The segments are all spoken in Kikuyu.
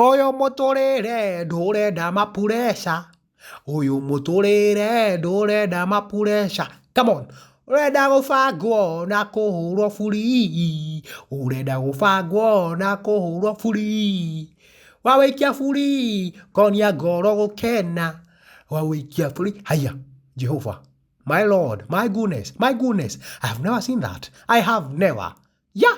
Ũyũ mũtũrĩre ndũrenda mapureca, ũyũ mũtũrĩre ndũrenda mapureca, come on. Ũrenda gũbangwo na kũhũrwo burii, ũrenda gũbangwo na kũhũrwo burii. Wawĩikia burii ngonia ngoro gũkena, wawĩikia burii, haiya, Jehova, my Lord, my goodness, my goodness, I have never seen that, I have never, yah!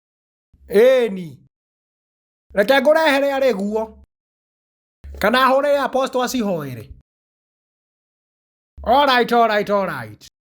Ĩni. Reke ngũrehere arĩ guo. Kana hũrĩre apostle acihoere. Alright, alright, alright.